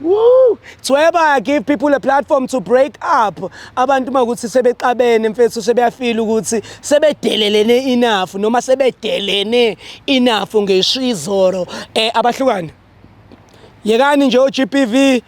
Woo! Thweba give people a platform to break up. Abantu uma ukuthi sebexabene mfethu sebeyafila ukuthi sebedelelene enough noma sebedelene enough ngesho izoro eh abahlukane. Yekani nje uGPV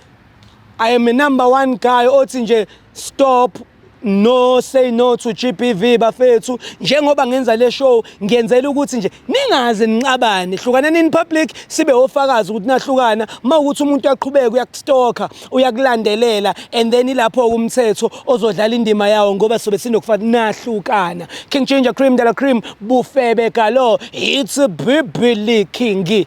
I am a number one guy othi nje stop no say no to GBV bafethu njengoba ngenza le show ngiyenzela ukuthi nje ningaze ninqabane hlukaneni in public sibe ofakazi ukuthi nahlukana uma ukuthi umuntu uyaqhubeka uyakustalker uyakulandelela and then ilapho umthetho ozodlala indima yawo ngoba sobe sinokufanele nahlukana King Ginger Cream Dala Cream bufebe galo it's a bibili king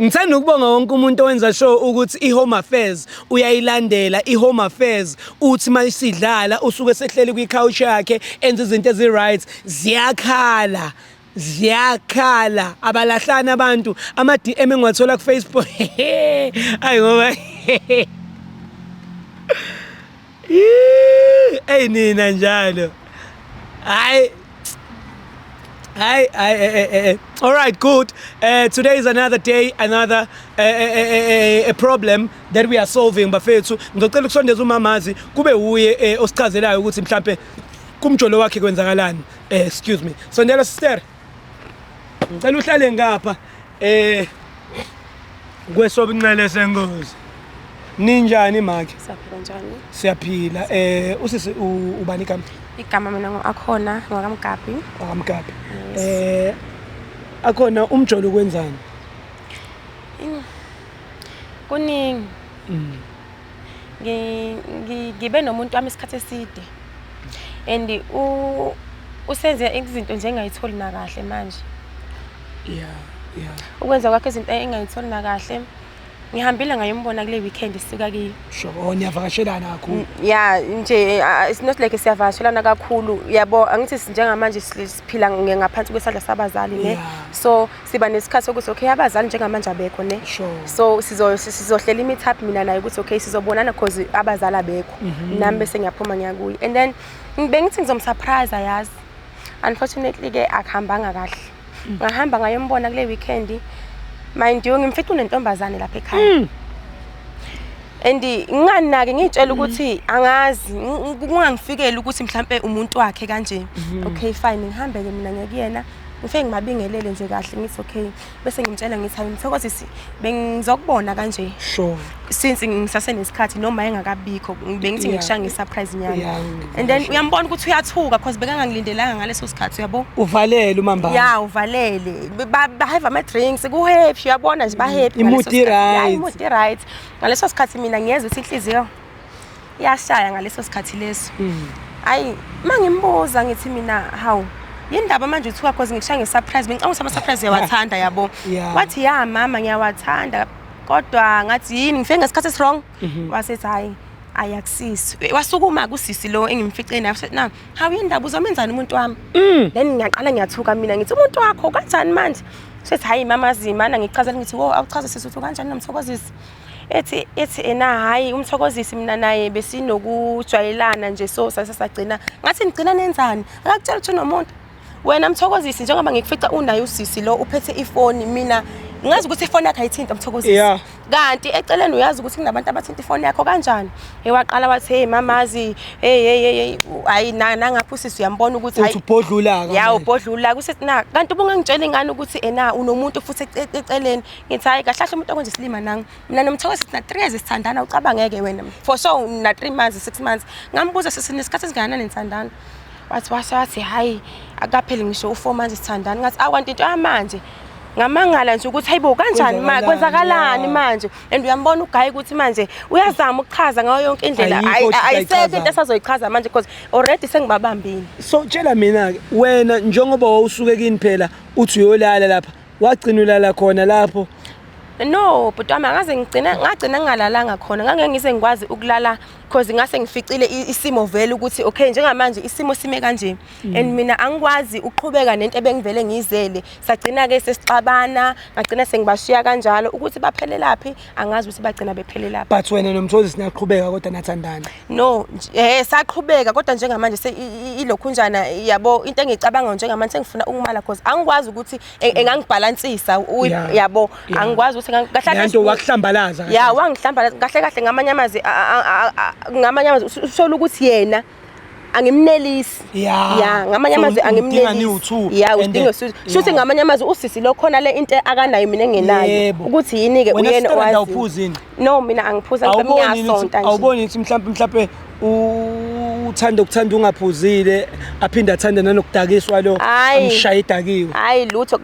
Ngithanda ukubonga wonke umuntu owenza sure ukuthi iHome Affairs uyayilandela iHome Affairs uthi mayisidlala usuke sehleli kwi-couch yakhe enza izinto ezi-right ziyakhala ziyakhala abalahlani abantu ama-DM engiwathola ku-Facebook ayi ngoba Eyi nina njalo. Hayi Hey, hey, hey, hey, hey. All right, good. Uh, today is another day, another uh, uh, uh, problem that we are solving bafethu. Ngizocela ukusondeza umamazi kube wuye osichazelayo ukuthi mhlambe kumjolo wakhe kwenzakalani. Excuse me. Sondela sister. Ngicela uhlale ngapha. Eh kwesobunxele sengozi. Ninjani manje? Siyaphila njani? Siyaphila. Eh usisi ubani igama? Igama mina ngoAkhona ngokaMgabi. OkaMgabi. Eh akhona umjolo kwenzani? Kuningi. Mm. Ngibe nomuntu wami isikhathi eside. And u usenze izinto nje engayitholi nakahle manje. yeah yeah ukwenza kwakhe izinto engayitholi nakahle ngihambile ngayombona kule weekend sisuka kiyo sure oh niyavakashelana kakhulu mm, yeah nje eh, it's not like siyavakashelana kakhulu yabo angithi njengamanje siphila ngaphansi kwesandla sabazali ne so siba nesikhathi sokuthi okay abazali njengamanje abekho ne so sizo sizohlela imithap mina naye ukuthi okay sizobonana because abazali abekho mhm. nami bese ngiyaphuma ngiyakuye and then bengithi ngizomsurprise yazi unfortunately ke akuhambanga kahle mm. ngahamba ngayombona kule weekend mind you ngimfithu nentombazane lapha ekhaya mm. and nginganaki ngitshela mm. ukuthi angazi kungangifikeli ukuthi mhlambe umuntu wakhe kanje mm-hmm. okay fine ngihambeke mina ngekuyena ngifike ngimabingelele nje kahle ngithi okay bese ngimtshela ngithi hayi mthokozi si bengizokubona kanje sure since ngisasenesikhathi noma engakabikho bengithi ngikusha ngesurprise nyana and then uyambona ukuthi uyathuka because bekangangilindelanga ngaleso sikhathi uyabo uvalele umamba ya uvalele ba have ama drinks ku happy uyabona nje ba happy imudi right imudi right ngaleso sikhathi mina ngiyeza ukuthi inhliziyo yashaya ngaleso sikhathi leso mm. ayi uma ngimbuza ngithi mina hawu yindaba manje uthiwa cause ngikushaya ngesurprise bengicanga ukuthi ama-surprise uyawathanda yabo wathi ya mama ngiyawathanda kodwa ngathi yini ngifike ngesikhathi esirong mhm. wasethi hhayi ayakusisi eh, wasukuma kusisi lo engimfice naye na hawu yindaba uzomenzani umuntu wami mm. then ngiyaqala ngiyathuka mina ngithi umuntu wakho kanjani manje sethi hhayi mama zimana ngichazela ngithi wo awuchaze sisi uthi kanjani nomthokozisi ethi ethi ena hayi umthokozisi mina naye besinokujwayelana nje so sase sagcina ngathi nigcina nenzani akakutshela ukuthi unomuntu wena mthokozisi njengoba ngikufica unaye usisi lo uphethe ifoni mina ngazi ukuthi ifoni yakhe ayithinta mthokozisi yeah. kanti eceleni uyazi ukuthi kunabantu abathinta ifoni yakho kanjani hey waqala wathi hey mamazi hey hey hey hayi nangapha usisi uyambona ukuthi hayi ubhodlula ya ubhodlula kusethi na kanti ubungangitshela ingane ukuthi ena unomuntu futhi eceleni ngithi hayi kahle kahle umuntu okwenza isilima nang mina nomthoko sithi na 3 years sithandana ucabangeke wena for so na 3 months 6 months ngambuza sisi nesikhathi esingakanani nithandana wathi wase wathi hayi akapheli ngisho u4 months sithandana ngathi awanti into yamanje ngamangala nje ukuthi hayibo kanjani ma kwenzakalani manje and uyambona ugayi ukuthi manje uyazama ukuchaza ngayo yonke indlela ayisekho into esazoyichaza manje because already sengibabambile so tshela mina ke wena njengoba wawusuke kini phela uthi uyolala lapha wagcina ulala khona lapho no bhuti wami angaze ngigcina ngagcina ngingalalanga khona ngangeke ngise ngikwazi ukulala because ngase ngificile i- isimo vele ukuthi okay njengamanje isimo sime kanje and mina angikwazi uqhubeka nento ebengivele ngiyizele sagcina-ke sesixabana ngagcina sengibashiya kanjalo ukuthi baphelelaphi angazi ukuthi bagcina bephelela phi but wena nomthozi sinaqhubeka kodwa nathandana no nj- eh saqhubeka kodwa njengamanje se- i- i- ilokhunjana yabo into engicabanga njengamanje sengifuna ukumala cause angikwazi ukuthi e- engangibhalansisa u- Yeah. yabo Yeah. angikwazi ukuthi engang- kahle lento kahle- wakuhlambalaza ya wangihlambala kahle kahle ngamanye amazwi a- a- a- a- ngamanye amazwi usola ukuthi yena angimnelisi Yeah. ya ngamanye So, amazwi udinga angimnelisi niwu-two. ya And udinga then- usizo shuthi Yeah. ngamanye amazwi usisi lo khona le into akanayo mina engenayo Yebo. ukuthi yini-ke Wena uyena sister, owaziyo. awuphuzi yini? no mina angiphuzi angibami awuboni yini ukuthi- ngiyasonta nje awuboni yini ukuthi mhlawumpe mhlawumpe u- uthanda ukuthanda ungaphuzile aphinde athande nanokudakiswa lo Ayi. amshaye idakiwe hhayi lutho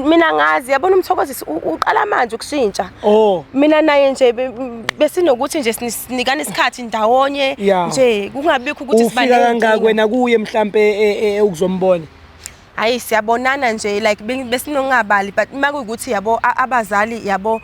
mina ngazi yabona umthokozisi uqala manje ukushintsha oh. mina naye nje besinokuthi nje sinikane isikhathi ndawonye nje kungabikho ukuthi sibaleke ufika kangaka wena kuye mhlambe e, e, e, ukuzombona hayi siyabonana nje like besinongabali but uma kuyukuthi yabo abazali yabo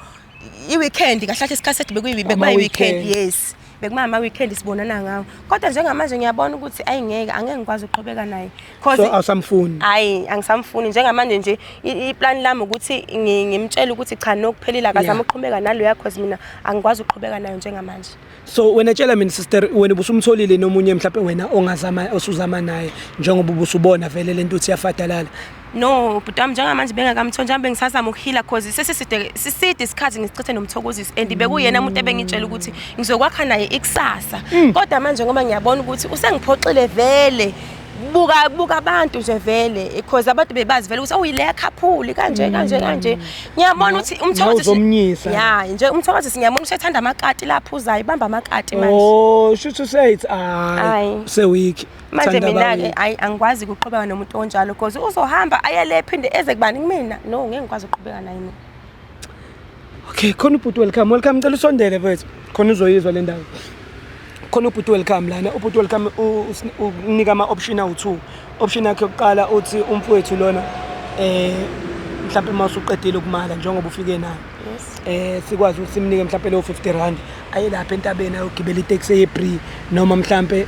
i-weekend kahlahle isikhathi sethu bekuyi-weekend yes bekuma ama weekend sibonana ngawo kodwa njengamanje ngiyabona ukuthi ayingeke angeke ngikwazi ukuqhubeka naye so awusamfuni hayi angisamfuni njengamanje nje iplan lami ukuthi ngimtshela ukuthi cha nokuphelile akazama ukuqhubeka nalo yakho mina angikwazi ukuqhubeka nayo njengamanje so wena tshela mina sister wena ubusumtholile nomunye mhlawumbe wena ongazama osuzama naye njengoba ubusubona vele lento uthi yafadalala No, bhuti wami njengamanje bengakamtholi njengoba bengisazama ukuhila cause sesiside siside isikhathi ngisichithe nomthokozisi and bekuyena umuntu ebengitshela ukuthi ngizokwakha naye ikusasa. Mm. Kodwa manje ngoba ngiyabona ukuthi usengiphoxile vele buka buka abantu nje vele because abantu bebazi vele ukuthi awuyile yakhaphuli kanje kanje kanje ngiyabona ukuthi umthokozi uzomnyisa ya nje umthokozi singiyabona ukuthi ethanda amakati lapho uzayo ibamba amakati manje oh shuthi useyithi hayi se week manje mina-ke ayi angikwazi ukuqhubeka nomuntu onjalo because uzohamba ayele phinde eze kubani kumina no ngeke ngikwazi ukuqhubeka naye mina okay khona ubhuti welcome welcome cela usondele mfethu khona uzoyizwa le ndawo khona ubhuti welcome lana ubhuti welcome unika ama-option awu-two option yakhe yokuqala uthi umfowethu lona eh mhlawumbe uma usuqedile ukumala njengoba ufike nayo eh sikwazi ukuthi simnike mhlawumbe leyo 50 rand ayelapha entabeni ayogibela itaxi yebree noma mhlawumbe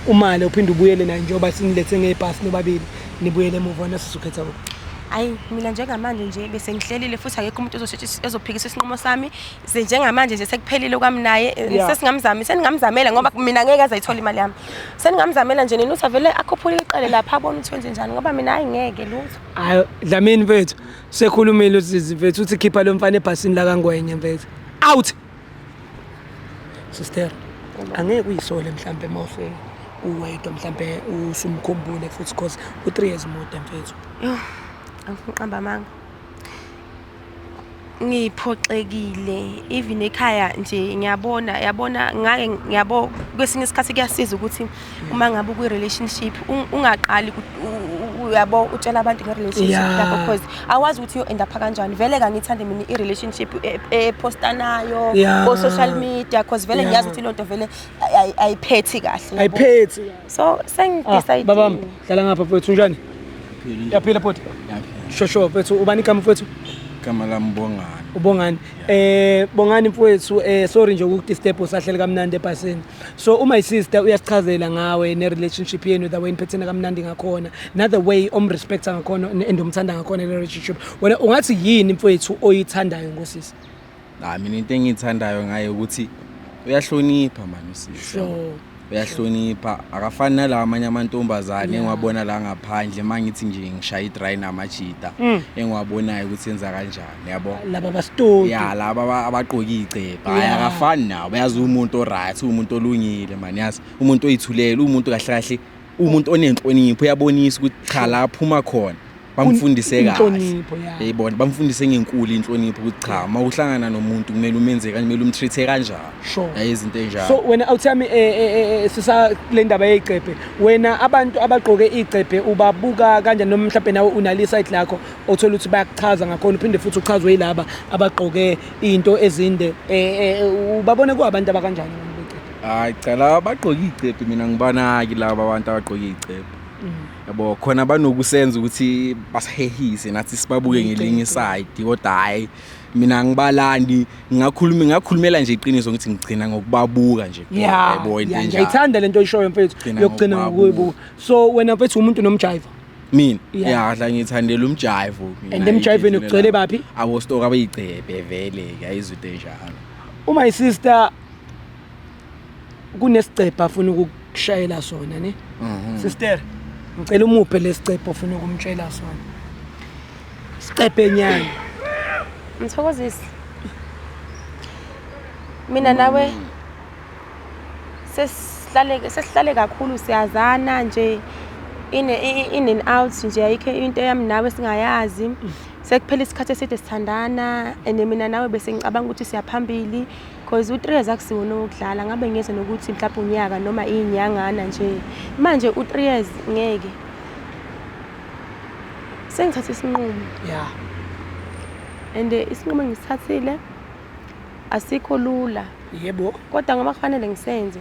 umale uphinde ubuyele naye njengoba sinilethe ngebhasi nobabili nibuyele emuva wena sizokhetha kuphi ayi mina njengamanje nje bese ngihlelile futhi akekho umuntu ozosheshe ezophikisa isinqumo sami ze njengamanje nje sekuphelile kwami naye eh, Yeah. sesingamzami seningamzamela ngoba mina ngeke aze ayithole imali yami seningamzamela nje nini uthi avele akhuphule iqale lapha abone ukuthi wenze njani ngoba mina hayi ngeke lutho hayi dlamini mfethu sekhulumile uzizi mfethu uthi khipha lo mfana ebhasini lakangwenye mfethu out sister angeke uyisole mhlampe uma use uwedwa mhlampe usumkhumbule futhi cause u-three years mude mfethu yho angiqamba amanga ngiphoxekile even ekhaya nje ngiyabona yabona ngake ngiyabo kwesinye isikhathi kuyasiza ukuthi uma ngabe ukwi relationship ungaqali uyabo utshela abantu nge relationship yakho because awazi ukuthi yo end up kanjani vele kangithande mina i relationship e, e posta nayo ko social media because vele ngiyazi ukuthi lonto vele ayiphethi kahle ayiphethi so sengi ah, decide baba dlala ngapha mfethu njani yaphila futhi shosho mfethu ubani igama mfethu igama lami ubongani ubongani eh bongani mfethu eh sorry nje ukudisturb usahlele kamnandi ebhasini so uma isister uyasichazela ngawe ne-relationship yenu the way niphethena kamnandi ngakhona nother way omrespecta ngakhona and omthanda ngakhona le-relationship wena ungathi yini mfowethu oyithandayo ngosisi hayi mina into engiyithandayo ngaye ukuthi uyahlonipha mani usisi sure. uyahlonipha akafani nalawa amanye amantombazane engiwabona la ngaphandle uma ngithi nje ngishaya i-dry namajita mm. engiwabonayo ukuthi enza kanjani yabo laba bastoti ya laba aba- abaqoka iy'cebha hhayi Yeah. akafani nawo bayazi uwumuntu o-right uwumuntu olungile mani yazi umuntu oyithulela uwumuntu kahle kahle uwumuntu onenhlonipho uyabonisa ukuthi cha la aphuma khona bamfundise kahle inhlonipho ya yayibona bamfundise ngenkulu inhlonipho ukuthi cha uma uhlangana nomuntu kumele umenze kanje kumele umtreat-e kanjalo Sure. yaye izinto enjalo so wena awuthami eh, eh, eh, sisa kule ndaba yey'cebhe wena abantu abagqoke iy'cebhe ubabuka kanjani noma mhlawumbe nawe unalisayidi lakho othola ukuthi bayakuchaza ngakhona uphinde futhi uchazwe yilaba abagqoke into ezinde eh, eh, ubabone kuwabantu abakanjani hayi cha laba bagqoke icepe mina ngibanaki laba abantu abagqoke icepe mm. yabo khona banokusenza ukuthi basihehise nathi sibabuke ngelinye side kodwa hayi mina ngibalandi ngakhuluma ngakhulumela nje iqiniso ngithi ngigcina ngokubabuka nje yabo into enjalo ngiyithanda lento oyishoyo mfethu yokugcina ngokuyibuka so wena mfethu umuntu nomjiva mina Yeah. ya la ngithandela umjive mina. And emjiveni Ngiyithandela- ugcwele baphi? abostoka abayigcebhe vele ke ayizwite njalo u my sister kunesigcebha afuna ukukushayela sona ne Mhm. sister ngicela umuphe lesigcebha ofuna ukumtshela sona sigcebhe nyana Mthokozisi. Mina nawe sesihlale sesihlale kakhulu siyazana nje in in and out nje ayikho into yami nawe singayazi sekuphela isikhathi eside sithandana and mina nawe bese ngicabanga ukuthi siyaphambili because u-3 years akusiwona wokudlala ngabe ngiyeza nokuthi mhlawumbe unyaka noma iy'nyangana nje manje u-3 years ngeke sengithathe isinqumo ya and eh, isinqumo engisithathile asikho lula yebo kodwa ngoba kufanele ngisenze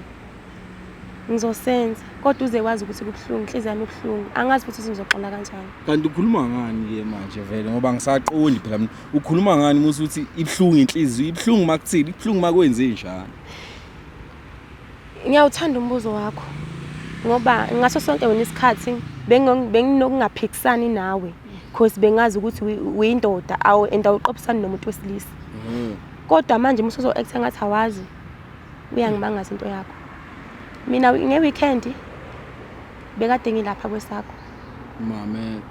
ngizosenza kodwa uze wazi ukuthi kubuhlungu inhliziyo yami ibuhlungu angazi futhi ukuthi ngizoqala kanjani kanti ukhuluma ngani ke manje vele ngoba ngisaqondi phela mina ukhuluma ngani musa ukuthi ibuhlungu inhliziyo ibuhlungu makuthini ibuhlungu makwenze njani Ngiyawuthanda umbuzo wakho ngoba ngaso sonke wena isikhathi benginokungaphikisani nawe because bengazi ukuthi uyindoda awu and awuqophisani nomuntu wesilisa mm. kodwa manje uma usuzo-acta ngathi awazi uyangimangaza into yakho mina nge-weekend bekade ngilapha kwesakho mame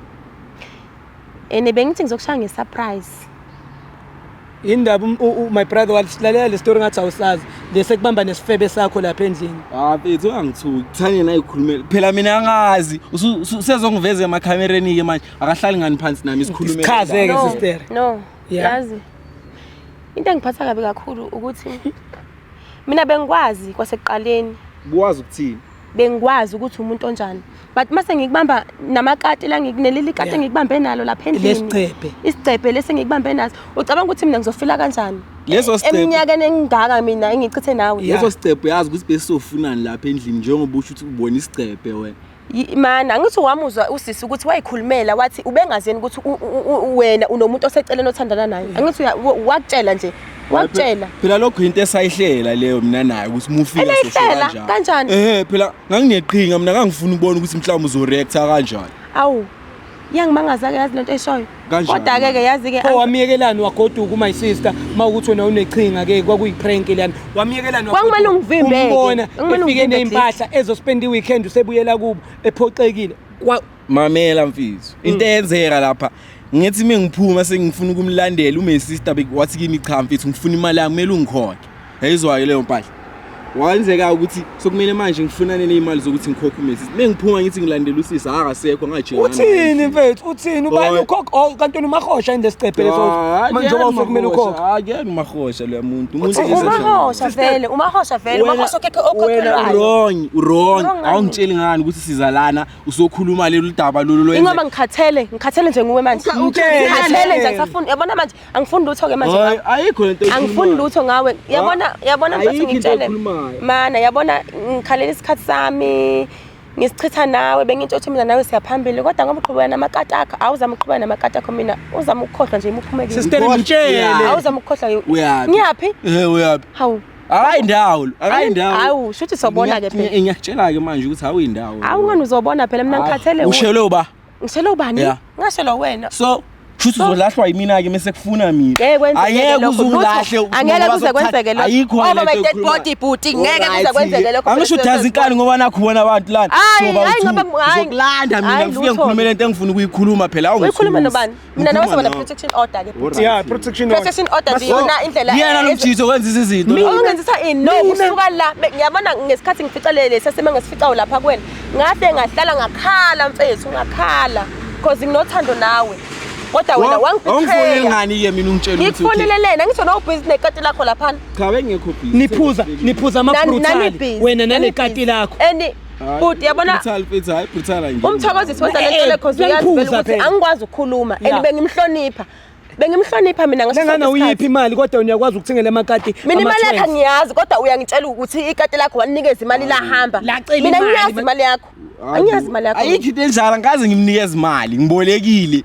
and bengithi ngizokushaya nge-surprise Indaba um- u- u- my brother walalela le story ngathi awusazi lese kubamba nesifebe sakho lapha endlini. Ah mfethu ungangithuki. Thane naye ukhulumela. Phela mina angazi. Usu- usu- Usezongiveza emakhamereni ke manje. Akahlali ngani phansi nami sikhulume. Isichaze ke No, sister. no Yeah. yazi into engiphatha kabi kakhulu ukuthi mina bengikwazi kwasekuqaleni Buwazi ukuthini? bengikwazi ukuthi umuntu onjani but mase ngikubamba namakati la ngikunelile ikati yeah. ngikubambe nalo lapha endlini lesicebe isicebe lesi ngikubambe naso ucabanga ukuthi mina ngizofila kanjani leso sicebe eminyakeni engingaka mina engichithe nawe leso sicebe yazi ukuthi besofunani lapha endlini njengoba usho ukuthi ubona isicebe wena mana ngithi wamuzwa usisi ukuthi wayikhulumela wathi ubengazeni ukuthi wena unomuntu oseceleni othandana naye angithi wakutshela nje wakutshela phela lokho yinto esayihlela leyo mina naye ukuthi mufike soshela kanjani ehe phela ngangineqhinga mina ngangifuna ukubona ukuthi mhlawumbe uzoreacta kanjani awu yangimangaza ke yazi lento eshoyo kodwa ke ke yazi ke oh wamiyekelani wagoduka my sister mawukuthi wena uneqhinga ke kwakuyi prank lana wamiyekelani wakumele ungivimbe umbona ufike nezimpahla ezospend iweekend usebuyela kubo ephoxekile mamela mfethu mm. into eyenzeka lapha ngithi mina ngiphuma sengifuna ukumlandela ume sister wathi kimi cha mfethu ngifuna imali yami kumele ungikhokhe yayizwayo leyo mpahla wenzeka ukuthi sokumele manje ngifunane nezimali zokuthi ngikhokhe ume sister mina ngiphuma ngithi ngilandela usisi akasekho ngajika uthini mfethu uthini ubani ukhokha oh, kanti unumahosha into esicephele so ah, manje ngoba usokumele ukhokhe akuyena umahosha lo muntu umuntu umahosha vele umahosha vele umahosha okekhe okhokhelwayo wrong wrong awungitsheli ngani ukuthi sizalana usokhuluma leli daba lolu lwenze ingoba ngikhathele ngikhathele nje nguwe manje Uka- ukhathele. ngikhathele nje angisafuni yabona manje angifuni lutho ke manje Hayi, ngawe. ayikho lento angifuni oyikhulumayo. lutho ngawe yabona yabona mfethu Ayikho into ngitshele oyikhulumayo. mana yabona ngikhalela isikhathi sami ngisichitha nawe bengitsho ukuthi mina nawe siyaphambili kodwa ngoba uqhubeka namakati akho awuzama ukuqhubeka namakati akho mina uzama ukukhohlwa nje imuphumekile Sister, Ngikhohlwa. mtshele. awuzama ukukhohlwa Uyaphi? ngiyaphi Eh, uyaphi hawu akayindawo akayindawo hawu shuthi sobona ke phela ngiyakutshela ke manje ukuthi awuyindawo hawu ngani uzobona phela mina ngikhathele ushelo ba ngishelo bani ngashelo wena so shuthi uzolahlwa yimina ke mase kufuna mina ayeke uzungilahle angeke kuze kwenzeke lokho ayikho ngoba be dead body booty ngeke kuze kwenzeke lokho angisho udazi inkani ngoba nakho bona abantu lana ngoba uzokulanda mina ngifike ngikhulumele into engifuna ukuyikhuluma phela awungikhuluma nobani mina nawe soba ne-protection order ke bhuti. Yeah, protection order. Protection order nje yona indlela Yena lo mjitho wenza izinto. Ungenzisa ini? No, kusuka la be- ngiyabona ngesikhathi ngifica le lesi sesime ngesificayo lapha kuwena. Ngahle ngahlala ngakhala mfethu ngakhala because nginothando nawe. Kodwa wena Wa- Awungifoneli wangibetray. ngani ke mina ungitshela ukuthi Ngikufonele lena ngisho no busy nekati lakho lapha. cha bengekho busy. Niphuza, niphuza Nani- nani amabrutal. busy, Wena nani nanekati busy. lakho. And Bhuti yabona brutal futhi hayi brutal nje. Umthokozisi wenza le nto lekhozi uyazi ukuthi angikwazi ukukhuluma and bengimhlonipha. Bengimhlonipha mina ngaso sonke isikhathi. uyiphi imali kodwa uyakwazi ukuthengela amakati. Mina imali yakhe ngiyazi kodwa uyangitshela ukuthi ikati lakho wanikeza imali lahamba. Mina ngiyazi imali yakho. Angiyazi imali yakho. Ayikho into enjalo ngikaze ngimnikeze imali ngibolekile.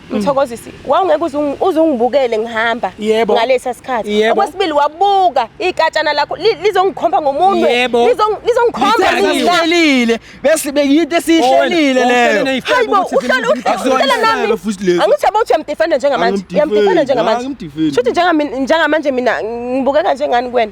Mthokozisi, wawungeke uzungibukele ngihamba ngalesa sikhathi. Okwesibili wabuka ikatshana lakho lizongikhomba ngomunwe. Lizongikhomba ngilalile. Bese beyinto esihlelile leyo. Hayibo, uhlala uhlala nami. Angithi abathi uyamdefenda njengamanje. Uyamdefenda njengamanje. Shuthi njengamanje mina ngibukeka njengani kuwena?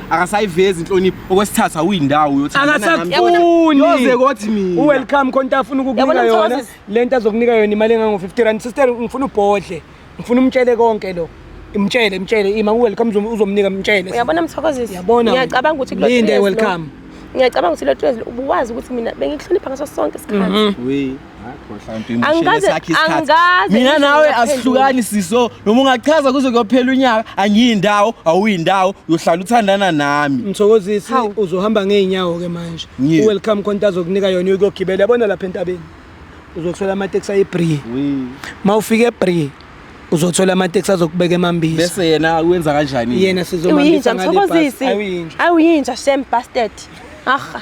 akasayivezi inhlonipho okwesithathu awuyindawo uyothi akasakufuni yoze kothi mina uwelcome khona afuna ukukunika yona lento azokunika yona imali engango 50 rand sister ngifuna ubhodle ngifuna umtshele konke lo imtshele imtshele ima uwelcome uzomnika mtshele uyabona mthokozisi yabona ngiyacabanga ukuthi kulo linde welcome ngiyacabanga ukuthi lo twezi ubuwazi ukuthi mina bengikuhlonipha ngaso sonke isikhathi mhm. mina nawe asihlukani siso noma ungachaza kuze kuyophela unyaka angiyindawo awuyindawo uyohlala uthandana nami mthokozisi uzohamba ngeenyawo-ke manje uwelcome khonto azokunika yona uyokuyogibela yabona lapha entabeni uzothola amateksi ayebrie ma ufika ebrie uzothola amateksi azokubeka emambisi bese yena wenza kanjani yena sizomambisa ngale bus awuyinja awuyinja shame bastard aha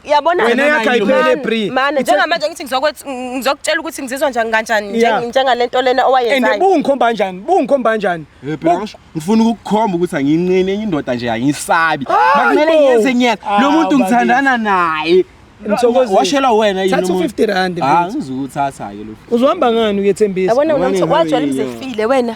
Yabona Wena yakho ayiphele Bri. Mana njengamanje ngithi ngizokwethi ngizokutshela ukuthi ngizizwa njani kanjani Yeah. nje- njengalento lena And owayenzayo. bungikhomba kanjani? Bungikhomba kanjani? Eh, phela ngisho- ngifuna ukukukhomba ukuthi anginqeni enye indoda nje angisabi Hayi makumele bo. ngiyenze ngiyena Ah, lo muntu bakithi. ngithandana naye Mthokozisi. washelwa wena yini Thatha umuntu? 50 rand, Ah, mfethu. ngizukuthatha-ke lo Uzohamba ngani uyethembisa? Yabona Yabona unomtho ingane wajwayela yini? uzefile wena.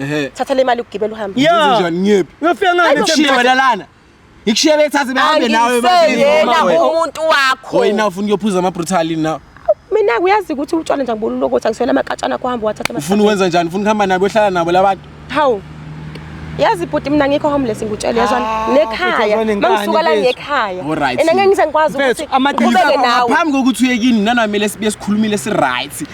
Ehe. thatha le mali ugibele uhambe Ya. Uze njani ngiyephi? Uyofika ngani? Ayo, Ngikushiye wena lana. Ngikushiye bethathe behambe nawe angiseyena emabhizini. umuntu wakho Oyi na ufuna ukuyophuza ama brutal yini na? mina kuyazi ukuthi utshwala nje ngibona ulokothi angiswela amaqatshana kuhamba wathatha Ufuna ukwenza njani? Ufuna ukuhamba nabo uhlala nabo labantu? hawu yazi bhuti mina ngikho homeless ngikutshele yazwani Ah, bhuti, nekhaya yazwani, ngani, mangisuka la mfethu? ngekhaya Alright. and angeke ngize ngikwazi Mfethu, ukuthi amaqiniso ngiqhubeke nawe Phambi kokuthi uye kini nanamele sibuye sikhulumile si right.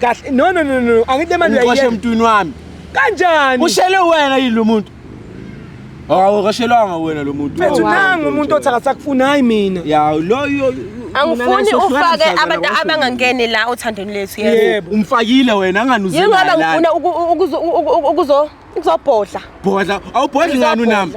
kahle no no no no angithi le mali uyiqoshe emntwini wami kanjani ushele wena yini lo muntu hawu kashelanga wena lo muntu mfethu nangu umuntu othi akasakufuni hayi mina ya lo angifuni ufake abantu abangangeni la othandweni lethu yebo umfakile wena anganuzela yingoba ngifuna ukuzo Ngizobhodla. Bhodla, awubhodli ngani unami?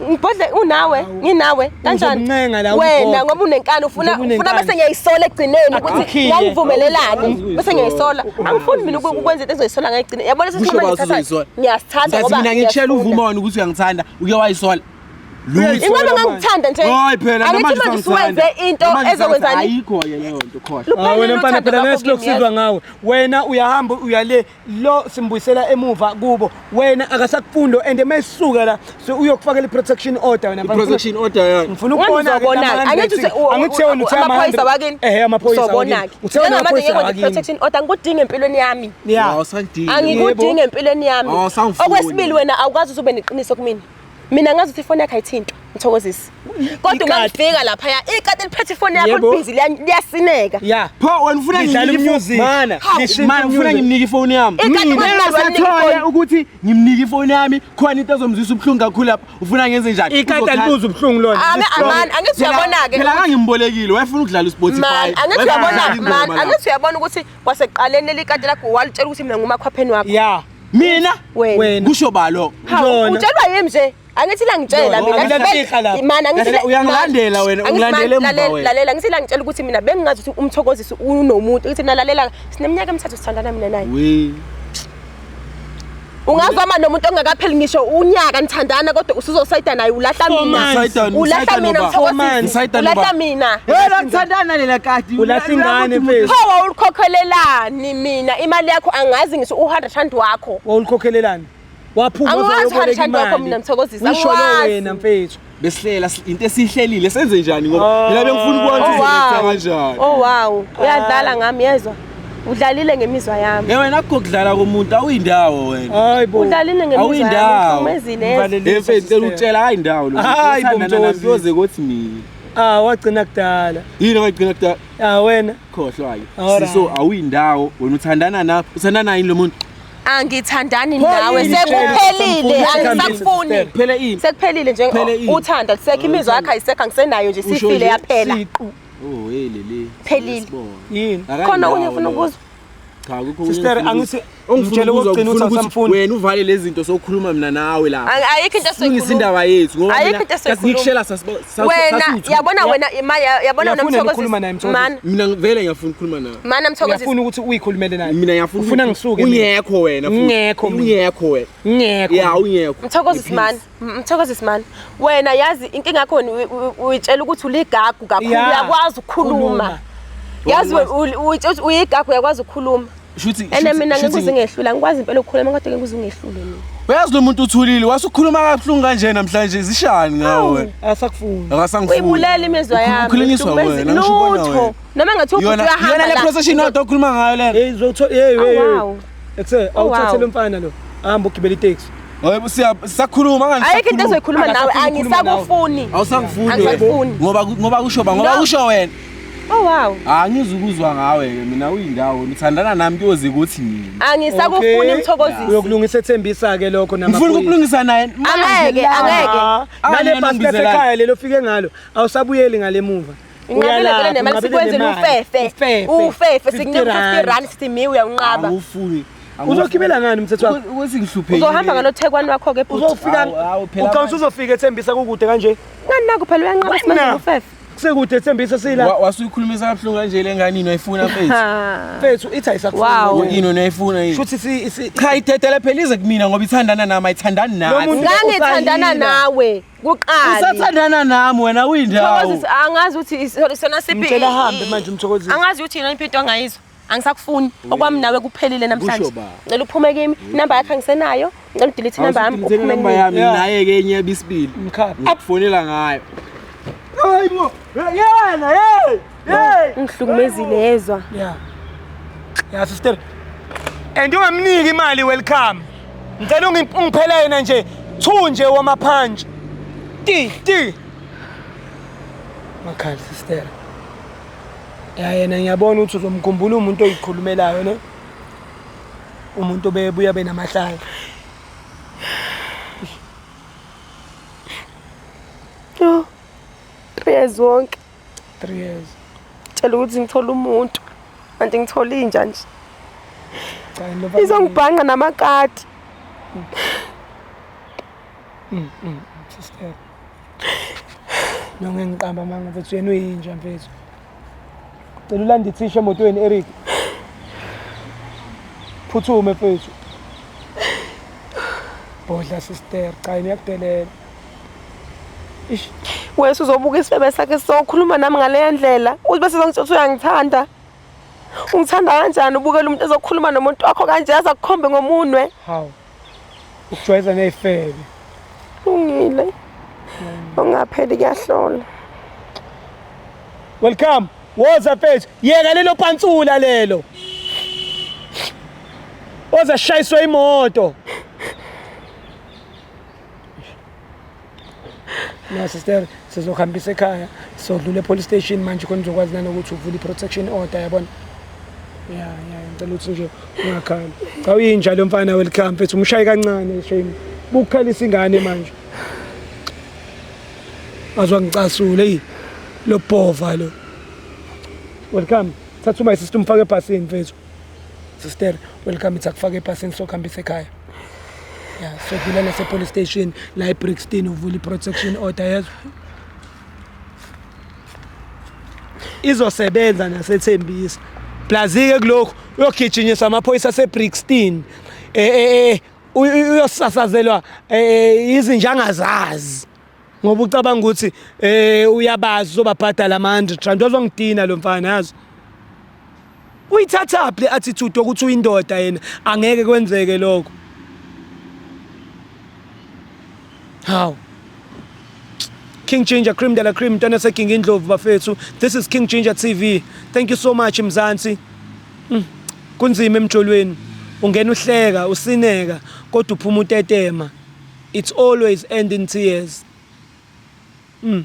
Ngibhodle unawe, nginawe kanjani? Uzomncenga la Wena ugogo. ngoba unenkani ufuna Ngoba unenkani. ufuna bese ngiyayisola ekugcineni ukuthi Akhiye. ngangivumelelani. Bese ngiyayisola. Angifuni mina uku- ukwenza into ezoyisola ngayigcina. Yabona Kusho sesinquma bawuthi ngithatha. uzoyisola. Ngiyasithatha Ngiyazi ngoba. mina ngikutshela ngiyasifuna. uvuma wona ukuthi uyangichanda, uke wayisola. Lutho. Ingabe ngangithanda nje. Hayi phela Angithi namanje manje usangithanda. usuwenze into Namanje ezokwenza usangithanda. ni- Ayikho-ke leyo nto khohlwa. Luphele Ah, wena mfana nothando phela lwakho ngeke silokusizwa kimi, ngawe wena uyahamba uyale lo simbuyisela emuva kubo wena akasakufundo and mayisuka la so uyokufakela i-protection order wena protection order yani ngifuna ukubona angithi wena uthe amaphoyisa wakini ehe amaphoyisa wakini uthe wena amaphoyisa wakini protection order ngikudinga empilweni yami awusangidingi angikudingi empilweni yami okwesibili wena awukwazi ube neqiniso kumina mina ngazi ukuthi ifoni yakhe ayithintwa mthokozisi kodwa uma ngifika laphaya ikati liphethe ifoni yakho libhizi liyasineka ya pho wena ufuna ngifuna ngimnike ifoni yami ngingasathole ukuthi ngimnike ifoni yami khona into ezomzwisa ubuhlungu kakhulu lapha ufuna ngenze njani ikati alibuza ubuhlungu lona ame amani angithi uyabona-ke phela kangimbolekile wayefuna ukudlala ispotify angithi uyabona mani angithi uyabona ukuthi kwasekuqaleni leli kati lakho walitshela ukuthi mina ngumakhwapheni wakho ya mina wena kusho balo utshelwa yimi nje angithi la ngitshela mina imana ngithi uyangilandela wena ungilandele emva wena lalela ngithi la ngitshela ukuthi mina bengingazi ukuthi umthokozisi unomuntu ngithi mina lalela sineminyaka emithathu sithandana mina naye ungazama nomuntu ongakapheli ngisho unyaka nithandana kodwa usuzosayida naye ulahla mina ulahla mina mthokozisi ulahla mina yena nithandana lela kati ulahla ingane mfethu hawa ulikhokhelelani Ni mina imali yakho angazi ngisho u-hundred rand wakho wawulikhokhelelani waphuma angiwazi u-hundred rand wakho mina mthokozisi usho lo wena mfethu besihlela into esihlelile senze njani ngoba ah. mina bengifuna ukubona oh, ukuthi kanjani oh wow uyadlala ngami yezwa udlalile ngemizwa yami hey wena akukho kudlala komuntu awuyindawo wena hayi bo udlalile ngemizwa yami umezile yezwa mfethu cela utshela hayi ndawo lo hayi bo mthokozisi yoze kothi mina ah wagcina kudala yini wagcina kudala Ah wena khohlwayo. Siso awuyindawo wena uthandana na uthandana yini lo muntu? angithandani nawe sekuphelile angisakufuni kuphele ini sekuphelile nje uthanda lisekho imizwa yakhe ayisekho angisenayo nje sifile yaphela oh hey leli phelile yini khona unye ufuna ukuzwa Cha akukho Sister angithi ungitshele ukugcina ukuthi asamfuni. Wena uvale lezi zinto sokhuluma mina nawe la. Ayikho into esoyikhuluma. Singisa indaba yethu ngoba mina kasikushela sasibona. Wena yabona wena imaya yabona wena mthokozisi. Mana mina vele ngiyafuna ukukhuluma nawe. Mana mthokozisi. Ngiyafuna ukuthi uyikhulumele naye. Mina ngiyafuna ufuna ngisuke. Ungekho wena. Ungekho. Ungekho wena. Ungekho. Ya ungekho. Mthokozisi mana. Mthokozi Simani, wena yazi inkinga yakho uyitshela ukuthi uligagu kakhulu uyakwazi ukukhuluma. Yazi uyigagu uyakwazi ukukhuluma. Shuthi ene mina ngikuze ngehlula ngikwazi impela ukukhuluma kodwa ke ngikuze ngehlule mina. Uyazi lo muntu uthulile wasukhuluma kabuhlungu kanje namhlanje zishani ngawe. Asakufuni. Akasangifuni. Uyibulele imizwa yami. Ukhulinyiswa wena ngisho ubona wena. Noma ngathi ubhuti uyahamba la. Yona le procession odwa okhuluma ngayo lena. Hey zotho hey hey. Ekuse Oh, wow. awuthathele umfana lo. Hamba ugibele itaxi. Ngoba siya- sisakhuluma ngani? ayikho into ezoyikhuluma nawe Angasafuni ukukhuluma angisakufuni Awusangifuni. Angisakufuni. Ngoba ku- ngoba kusho ba ngoba No. kusho wena. oh wow Ah ngizukuzwa ngawe ke mina uyindawo ngithandana nami kuyoze kuthi nini. angisakufuni Okay. mthokozisi Uyokulungisa ethembisa ke lokho Ngifuna namaphoyisa. ukulungisa naye. angeke angeke Ah, Angene Nale bhasi ngibizela. lasekhaya lelo fike ngalo awusabuyeli ngale muva. Uyalapha, nemali unqabile sikwenzela nemali. ufefe Ufefe. ufefe 50 sikunika rand. 50 rand sithi mi uyawunqaba Awufuni. Uzogibela ngani mthetho wakho? Ukuthi ngihluphekile. uzohamba ngalothekwani wakho-ke bhuti Uzofika Awu, awu, phela uqonsa manje. uzofika ethembisa kukude kanje. ngani naku phela uyanqaba Wena. simenzela ufefe Kusekude ethembisa sila. Wa- Wasuyikhulumisa kabuhlungu kanje le ngane yini wayifuna mfethu. Ha. Mfethu ithi ayisakufuni. Wow. Yini yini wayifuna yini? Shuthi si si Cha ithethele phela ize kumina ngoba ithandana nami ayithandani Lo nathi. muntu- ngangithandana Usayila. nawe kuqala usathandana nami wena uyindawo mthokozisi angazi ukuthi sona sipi ngicela hambe manje mthokozisi angazi ukuthi yini impinto angayizwa angisakufuni okwami nawe kuphelile namhlanje ngicela uphume kimi inamba yakhe angisenayo ngicela udelete inamba yami uphume inamba yami naye ke enye bisibili akufonela ngayo hayi bo yena hey ungihlukumezile yezwa ya ya sister and ungamniki imali welcome ngicela ungi- ungiphele yena nje two nje wamaphantshi ti ti makhali sister ya yena ngiyabona ukuthi uzomkhumbula umuntu oyikhulumelayo ne umuntu obebuya benamahlaya yezwa wonke 3 years cela ukuthi ngithole umuntu kanti ngithole inja nje izongibhanqa namakati mm. mm, mm, sister nonge ngiqamba manga mfethu yena uyinja mfethu cela ulande ithisha emotweni eric phuthume mfethu bodla sister cha niyakudelela wese uzobuka isifebe sakhe sizokhuluma nami ngaleya ndlela uthi bese zongitshela uyangithanda ungithanda kanjani ubukela umuntu ezokhuluma nomuntu wakho kanje yaze akukhombe ngomunwe hawu ukujwayeza ney'febe lungile ungapheli kuyahlola welcome woza mfethu yeka lelo pantsula lelo oza shayiswa imoto no sister sizohambisa ekhaya sodlula epolice station manje khona uzokwazi nanokuthi uvule i-protection order yabona ya ya ngicela ukuthi nje ungakhali cha uyinja lo mfana welcome mfethu umshaye kancane shame bukukhalisa ingane manje azwa ngicasule eyi lobhova lo welcome thatha uma sister umfake ebhasini mfethu sister welcome it's akufaka epasini sokuhambisa ekhaya ya sodlula nasepolice station la ebrixton uvula i-protection order yezwa izosebenza nasethembisa plazike kulokhu uyogijinyiswa amaphoyisa asebrixton eh, eh, eh, uyosasazelwa izinjanga zazi ngoba ucabanga ukuthi um uyabazi uzobabhadala ama-hundred rand ozongidina lo mfana yazi uyithathaphi le attitude ukuthi uyindoda yena angeke kwenzeke lokho hawu King Ginger Cream de la Cream mntana seking indlovu bafethu this is King Ginger TV thank you so much mzansi mm. kunzima emjolweni ungena uhleka usineka kodwa uphuma utetema it's always end in tears mm.